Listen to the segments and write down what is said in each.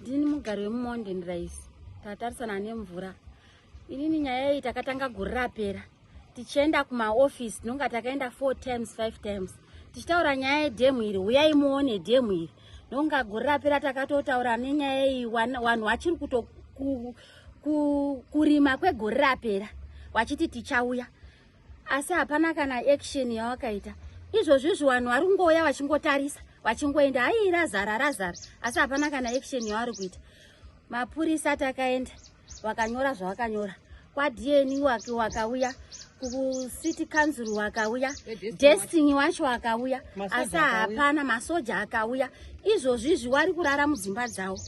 ndini mugari wemumonden rice tatarisana ane mvura inini nyaya iyi takatanga guri rapera tichienda kumaofisi tinonga takaenda four times five times tichitaura nyaya yedhemu iri huyai muone dhemu iri nonga guri rapera takatotaura nenyaya iyi vanhu vachiri kuto kurima kwegore rapera wachiti tichauya asi hapana kana action yawakaita izvozvizvi vanhu vari kungouya vachingotarisa vachingoenda haii razara razara asi hapana kana action yavari kuita mapurisa takaenda vakanyora zvavakanyora kwadn wake wakauya kucity council wakauya destiny wacho wakauya asi hapana masoja akauya izvozvizvi wari kurara mudzimba dzavo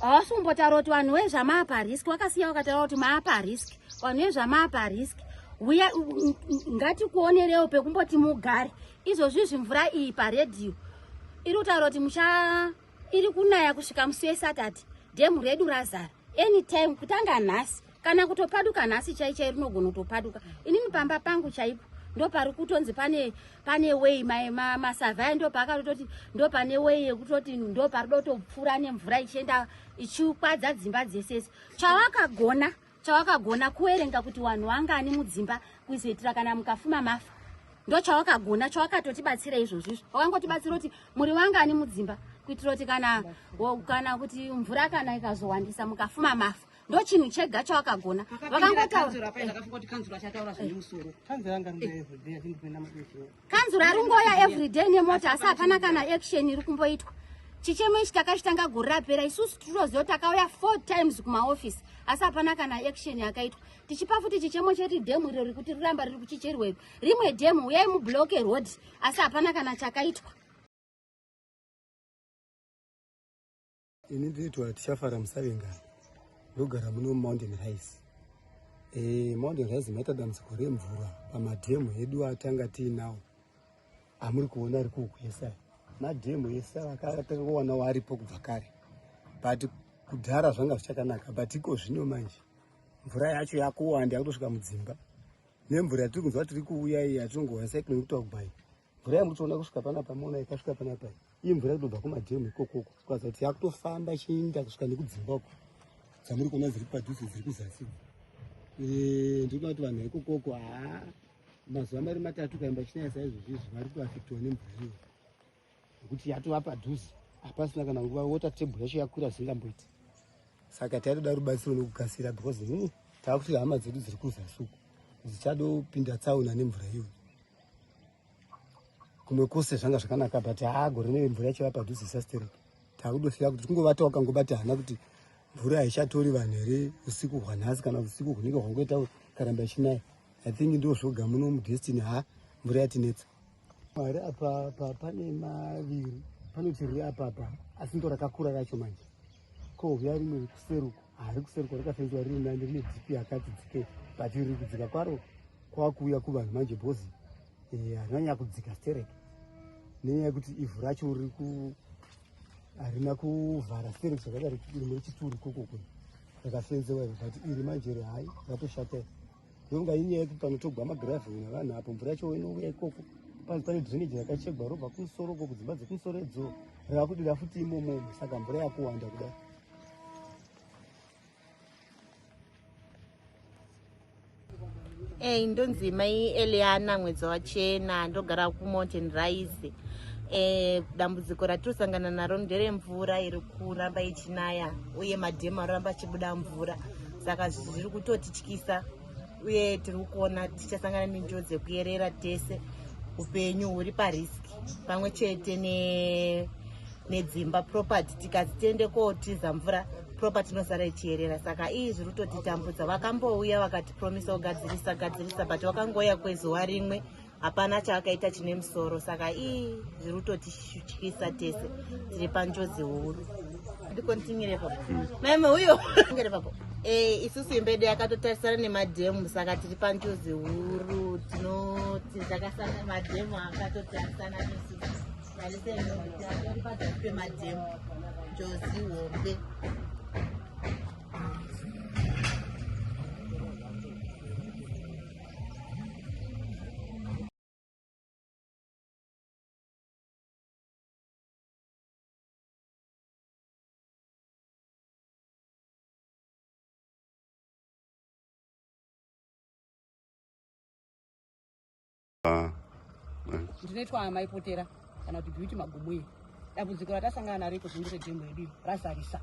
hawasi kumbotaura kuti vanhu wezvamaapa risk wakasiya wakataura kuti maapa risk vanhu vezvamapa risk uya ngatikuonerewo pekumboti mugare izvozvi zvimvura iyi paredhiyo iri kutaura kuti mucha iri kunaya kusvika musi wesatati dhemu redu razara anytime kutanga nhasi kana kutopaduka nhasi chai chai rinogona kutopaduka inini pamba pangu chaipo ndopari kutonzi pane pane way masavhai ndopaakatototi ndo pane way yekutoti ndopari dotopfuura nemvura ichienda ichikwadza dzimba dzesese chawakagona chawakagona kuwerenga kuti wanhu wangani mudzimba kuzoitira kana mukafuma mafa ndo chawakagona chawakatotibatsira izvozvo izvo wakangotibatsira kuti muri wangani mudzimba kuitira kuti kana kana kuti mvura kana ikazowandisa mukafuma mafa ndo chinhu chega chawakagona vakangotaura kanzura ari ngoya everyday nemota asi hapana kana action iri kumboitwa chichemo ichi takachitanga gore rapera isusu titoziva kuti takauya four times kumaofisi asi hapana kana action yakaitwa tichipa futi chichemo cheti dhemu iro rikuti riramba riri kuchicherwa iro rimwe dhemu uyai mubloke road asi hapana kana chakaitwa ini ndinoitwa tichafara musavengana ndogara muno mountain rise e, eh, mountain rise maita dambudziko remvura pamadhemu edu atanga tiinawo amuri kuona ari kuukuesa madhemu ese akatakawanawo aripo kubva kare but kudhara zvanga zvichakanaka but iko zvino manje mvura yacho yakuwanda yakutosvika mudzimba nemvura yatiri kunzwa tiri kuuya iyi yatinongoona saikune kutaugbai mvura yamuri kuona kusvika pana pamona ikasvika pana pai iyi mvura kutobva kumadhemu ikokoko kukaza kuti yakutofamba ichiinda kusvika nekudzimba uko dzamuri kuona dziri padhuze dziri kuzasi ndikuda kuti vanhu ikokoko haa mazuva mari matatu kaimba chinaya saizvozvi izvi vari kuafektiwa nemvura iyo nekuti yatova padhuze hapasina kana nguva wota tebhu yacho yakwira zvingamboiti saka taitoda rubatsiro nekukasira because hmm, taakuti hama dzedu dziri kuzasuku dzichadopinda tsaona nemvura iyoyo kumwe kose zvanga zvakanaka but haa gore neve mvura yachiva padhuze isasterek taakudofira kuti kungovatawo kangobati hana kuti mvura haichatori vanhu here usiku hwanhasi kana usiku hunenge hwangoita karamba ichinaya i think ndo zvoga muno mudestiny ha mvura yatinetsa mwari apapa pane maviri panoti riri apapa asi ndo rakakura racho manje Kouya rimwe rekuseruko hari kuseruko rakafenzwa riri nani rine dp yakati dzike but riri kudzika kwaro kwakuuya kuvanhu manje bhozi eh, harina nyaya kudzika sterek nenyaya yekuti ivhu racho riri ku harina kuvhara sterek zvakadaro rimwe rechituri kokoko rakafenzewa iro but iri manje rehai ratoshata Yonga inyaya yekuti panotogwa magravheri navanhu apo mvura yacho inouya ikoko panzi pane drainage rakachegwa robva kumusoro uko kudzimba dzekumusoro idzo rakudira futi imomo saka mvura yakuwanda kudai eyi ndonzi mai eliana mwedzi wachena ndogara kumountain rise e, dambudziko ratinosangana naro nderemvura iri kuramba ichinaya uye madhemu aroramba achibuda mvura saka zviri kutotityisa uye tiri kuona tichasangana nenjodzi yekuyerera tese upenyu huri pariski pamwe chete nedzimba property tikazi tiende kootiza mvura property inosara ichiyerera saka iyi zviri kutotitambudza vakambouya vakatipromisa kugadzirisa gadzirisa but wakangouya kwezuva rimwe hapana chaakaita chine musoro saka ii zviri kutotityisa tese tiri panjodzi huru ndikontinyire papo hmm. maime uyo ngere papo e, isusu imbede yakatotarisana nemadhemu saka tiri panjodzi huru tinoti takasana madhemu akatotarisana nesu tariseatori pazasi pemadhemu njozi hombe Ah, eh. ndinoitwa amai potera kana kuti beauty magumu iyi dambudziko ratasangana naro iko zvimire demo yedu razarisa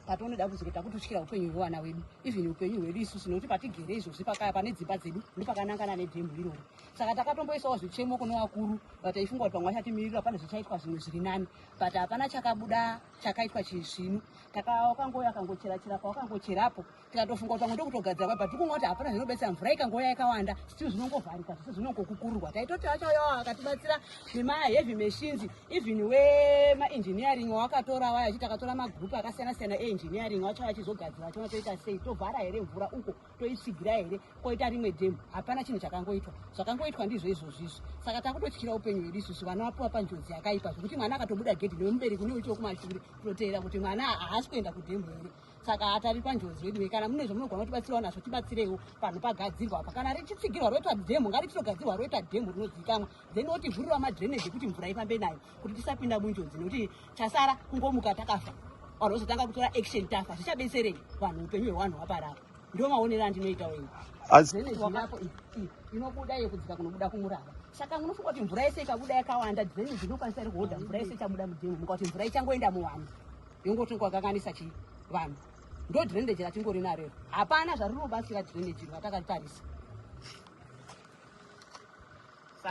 patinoda kuzoti takututyira upenyu hwevana wedu even upenyu hwedu isusu nekuti patigere izvozvi pakaya pane dzimba dzedu ndipakanangana nedhemhu iroro saka takatomboisawo zvichemo kune vakuru vataifunga kuti pamwe vachatimirira pane zvichaitwa zvimwe zviri nani but hapana chakabuda chakaitwa chii zvino takawakangouya akangocherachera pawakangocherapo tikatofunga kuti pamwe ndokutogadzira kwai but tikunga kuti hapana zvinobetsera mvura ikangouya yakawanda stil zvinongovharika zvese zvinongokukururwa taitoti achauyawo akatibatsira nemaheavy machines even wemaengineering wawakatora waya achiti akatora magroup akasiyana siyana eengineering wacho vachizogadzira chona toita sei tovhara here mvura uko toitsigira here koita rimwe demu hapana chinhu chakangoitwa zvakangoitwa ndizvo izvozvo izvo saka takutotyira upenyu hwedu isusu vana vapiwa panjodzi yakaipa zvekuti mwana akatobuda gedhi nemubereki une uchiwo kumashure kutoteera kuti mwana haasi kuenda kudemu here saka hatari panjodzi vedu kana mune zvamunogona kutibatsirawo nazvo tibatsireiwo panhu pagadzirwa apa kana richitsigirwa roitwa dhemu ngarichitogadzirwa roitwa dhemu rinozivikamwa then otivhurira madrainage ekuti mvura ifambe nayo kuti tisapinda munjodzi nekuti chasara kungomuka takafa vanhu vozotanga kutora action tafa zvichabetserei vanhu upenyu hwevanhu hwaparapa ndo maonero andinoita wenyu zvenezivapo inobuda yekudzika kunobuda kumurava saka munofunga kuti mvura yese ikabuda yakawanda dzeni dzinokwanisa iri kuhodha mvura yese ichabuda mudhemu muka kuti mvura ichangoenda muwanhu yongotonga kakanisa chi vanhu ndo drendeji ratingori narero hapana zvarinobatsira drendeji rwatakatarisa